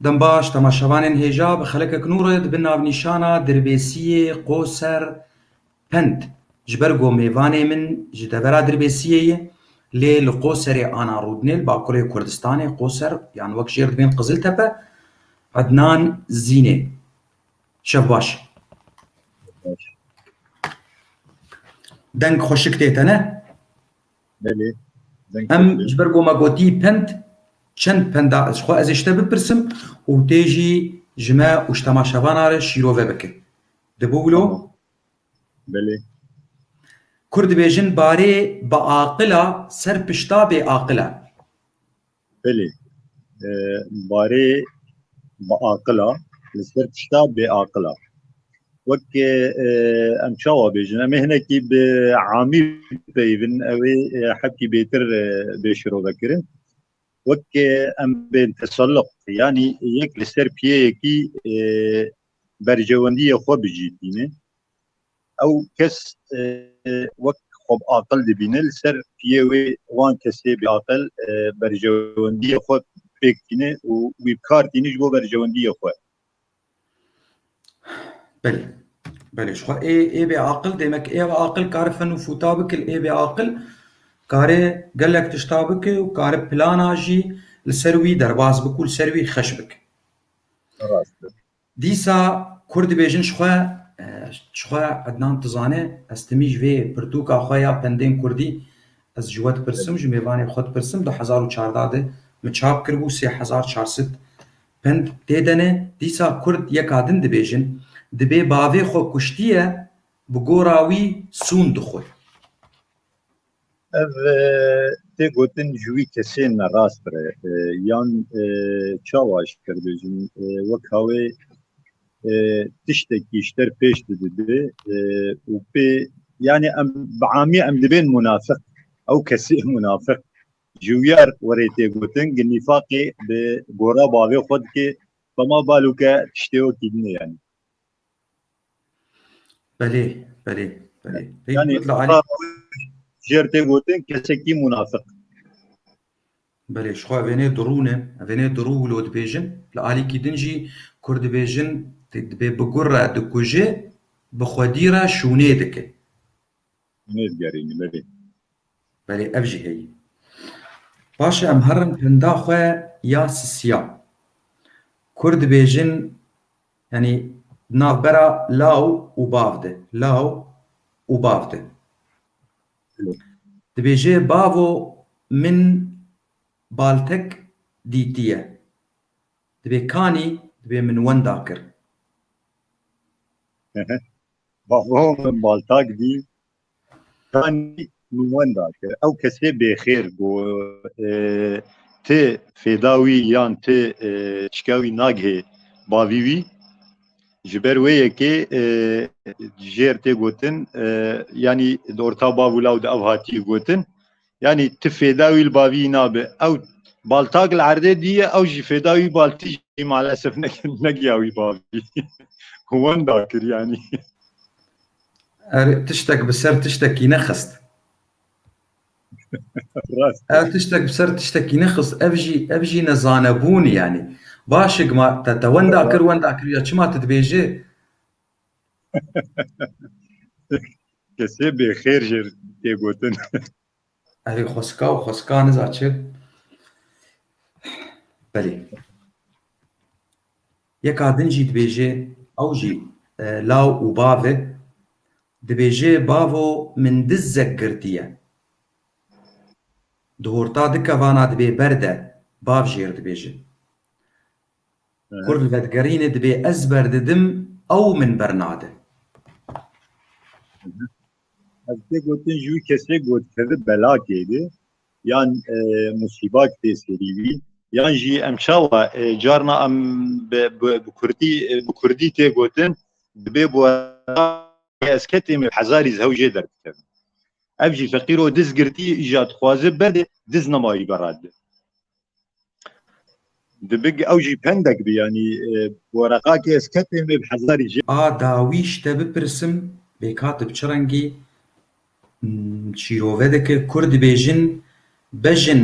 Dembaş, temaşevanên hêja bi xelekek nû re di bin navnîşana Dirbêsiyê Qoser Pend ji ber ku mêvanê min ji devera Dirbêsiyê ye lê li Qoserê ana rûdinê li Bakurê Kurdistanê Qoser yan wek jêr dibên Qiziltepe Ednan Zînê Şev baş. Deng xweşik tê te ne? Belê. Em ji ber ku me gotî pend çend penda ji xwe ez ê ji te bipirsim û tê jî ji me û ji temaşevanan re şîrove bike. Dibû wilo? Belê. Kurd dibêjin barê bi aqila ser pişta bê aqil e. Belê. Barê biaqila li ser tişta bêaqila. Wek em çawa bêjin em ê hinekî bi amî peyivin ew ê hepkî bêtir bê şirovekirin. Wek em bên tesalluq yanî yek li ser piyeyekî berjewendiyê xwe bijîtînin. Ew kes wek xweb aqil dibîne li ser piyê wê wan kesê bêaqil berjewendiyê xwe pêk tîne û wî bikar tîne ji bo berjewendiyê xwe. Belê. Belê ji xwe ê ê bêaqil demek ê aqil kare fen û fûta bike li ê bêaqil kare gelek tişta bike û kare plana jî li ser wî derbas bike û li ser wî xeş bike. Rast e. Dîsa kurd dibêjin ji xwe, ji xwe Ednan Tizane, ez timî ji vê pirtûka xwe ya Pendên Kurdî ez ji we dipirsim, ji mêvanê xwe dipirsim, du hezar û çardeh de min çap kiribû, sê hezar çar sed pend tê de ne. Dîsa kurd yeka din dibêjin, dibê bavê xwe kuştiye, bi gora wî sûn dixwe. Ev tê gotin ji wî kesên me rast re yan çawa ji kerdojin wek hawê tiştekî ji ter pêş didide û pê yani em bi amî em dibên munafik ew kesê munafik ji wiyar werê tê gotin gi nîfaqê bi gora bavê xwe dikê bema balûke tiştê wekî dine yani. Belê, belê, belê. Yani Hikmet Lali, jêr tê gotin kesekî munafik. belê, ji xwe evênê dirû ne, evênê dirû û lo dibêjin. Li alîkî din jî Kurd dibêjin dibê bi gur re dikuje, bi xwedî re şûnê dike. Tenê digerînî belê. Belê ev jî heye. Paşê em herin penda xwe ya sisiya. Kurd dibêjin yanî di navbera law û bav de. Law û bav de. Dibêje bavo min baltek dîtiye. Dibê kanî dibê min wenda kir. Bahomen Baltak dî kanî min wenda kir ew kesê bêxêr bû e, ti fêda wî yan ti e, çika wî nagihê bavî wî ji ber wê yekê e, jêr tê gotin e, yanî di orta bav û law di ev hatî gotin Yanî tu fêda wî li baviyî nabe. Ew baltak li erdê diye ew jî fêda wî baltî jî malesef negiya wî bavî. Wenda kir yanî. Erê tiştek bi ser tiştekî nexist. Ev tiştek bi ser tiştekî nexist ev jî ev jî ne zanebûnî yanî. Baş e gima te te wenda kir wenda kir ya çima tu dibêjî Kesê bê xêr jê tê gotin. Erê xweska û xweska niza çi? Belê. Yeka din jî dibêje ew jî e, law û bav e. Dibêje bavo min dizek girtiye. Di horta di kevana dibê berde bav jêr dibêje. Kurd li vedigerîne dibê ez berdidim ew min bernade. Ez tê gotin ji wî kesê got kevib belakê de yan musîbak tê serî wî yan jî em çawa carna em bi kurdî bi kurdî tê gotin dibê bu ez ketê me hezarî zew jê derdikevin. Ev jî feqîro diz girtî jî ya dixwaze berdê diz nemayî berade. Dibik ew jî pendek bi yanî boreqakê ez ketê me bi hezarî jê. A dawî ji te bipirsim bêkatib çi rengî şîrove dike kur dibêjin bejin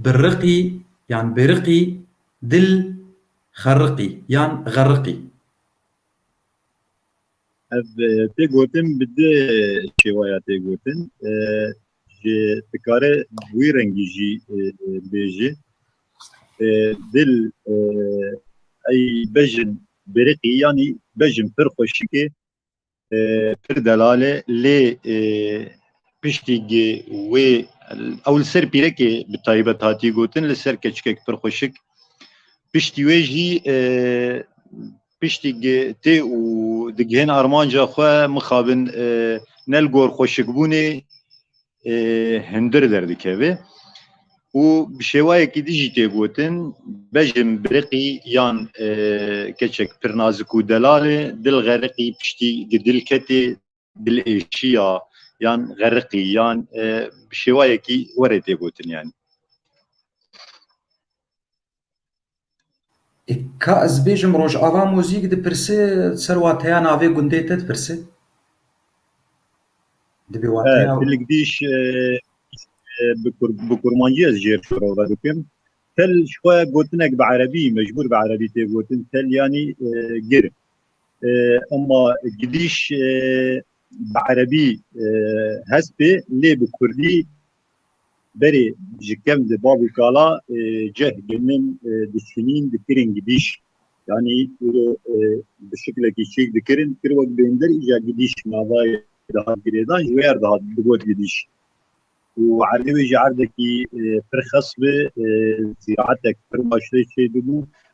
bi riqî yan bêriqî dil xeriqî yan xeriqî. Ev tê gotin bi di şêwaya tê gotin. Ji dikare wî rengî jî bêjî. Dil ey bejin biriqî yanî bejin pir xweşikê pir delale lê piştî gê wê ew li ser pîrekê bi taybet hatî gotin li ser keçikek pir xweşik piştî wê jî Piştî tê û digihên armanca xwe mixabin ne li gor xweşikbûnê hundir derdikeve û bi şêwayekî din jî tê gotin bejn biriqî yan keçek pirnazik û delal e, dil xeriqî piştî gi dil ketê dilêşiya yan xeriqî yan bi şêwayekî were tê gotin yanî. Ka ez bêjim Rojava muzîk dipirse ser wateya navê gundê te dipirse? Dibê wateya Tilik dîş bi kurmancî ez jêr şoro ve dikim. Tel ji xwe gotinek bi erebî mecbûr bi erebî tê gotin tel yanî gir. Ema gidîş bi erebî hest bê lê bi kurdî berê ji kev di bav û kala ceh gelin diçûnîn dikirin gidîş. Yanî îro bi şiklekî çêk dikirin kir wek bêndir îja gidîş navayê dihat girêdan ji wêr dihat digot gidîş. û erdê wê jî erdekî pir xes bi zîraetek pir baş lê çêdibû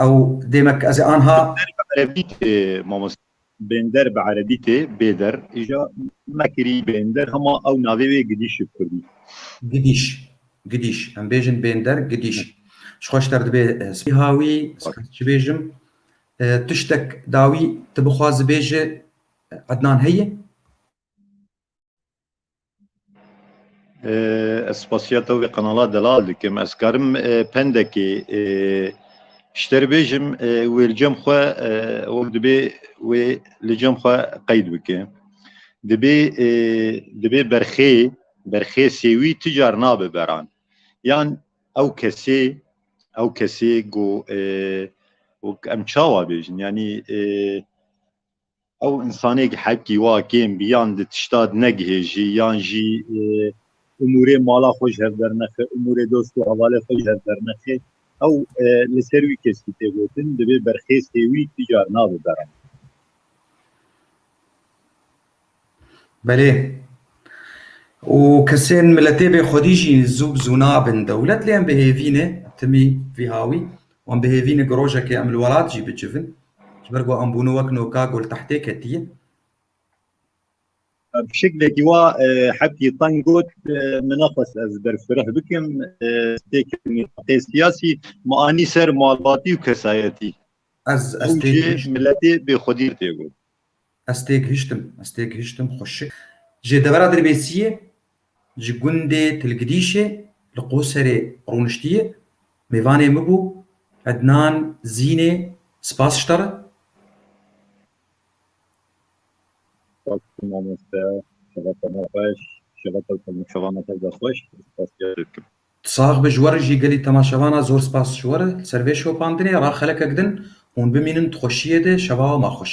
Ew demek ez ê anha. Bênder bi erebî tê mamoste. Bênder bi erebî tê bêder. Îja me kirî bênder hema ew navê wê gidîş bi kurdî. Gidîş. Gidîş. Em bêjin bênder gidîş. Ji xwe ji te re dibê spî hawî. Ez çi bêjim. Tiştek dawî tu bixwaz bêje Ednan heye? Ez spasiya te wê qenala delal dikim. Ez karim pendekê şter bêjim wê li cem xwe wek dibê wê li cem xwe qeyd bike. Dibê dibê berxê berxê sêwî ti car nabe beran. Yan ew kesê ew kesê ku wek em çawa bêjin yanî Ew insanêk heqî wa kêm bî yan di tişta di negihêjî yan jî umûrê mala xwe ji hev dernexe, umûrê dost û hevalê xwe ji hev dernexe, ew li ser wî keskî tê gotin, divê berxêstê wî ti car nabe beran. Belê. Û kesên miletê bê xwedî jî zû bi zû nabin dewlet lê em bi hêvî ne timî vî hawî û em bi hêvî ne ku rojekê em li welat jî bicivin ji ber ku em bûne wek noka ku li tehtê ketiye. Bi şeklekî wa Hepî Teng got, Min nexwest ez berfireh bikim stêrkên mîraqê siyasî ma anî ser malbatî û kesayetî. Ez stêrkên miletê bê xwedî tê got. Ez têgihiştim, ez têgihiştim xwe şik. Ji devera Dirbêsiyê, ji gundê Tilgidîşê li Qoserê rûniştiye, mêvanê min bû Ednan Zînê Spas ji te re. Spas dikim mamoste, şevata me xweş, şevata te û min şevana te zexweş, ez spasîyarê dikim. Tu sax be ji we re jî gelî temaşevana zor spas ji we re li ser vê şopandinê ra xelekek din hûn bimînin di xweşiyê de şeva ma xweş.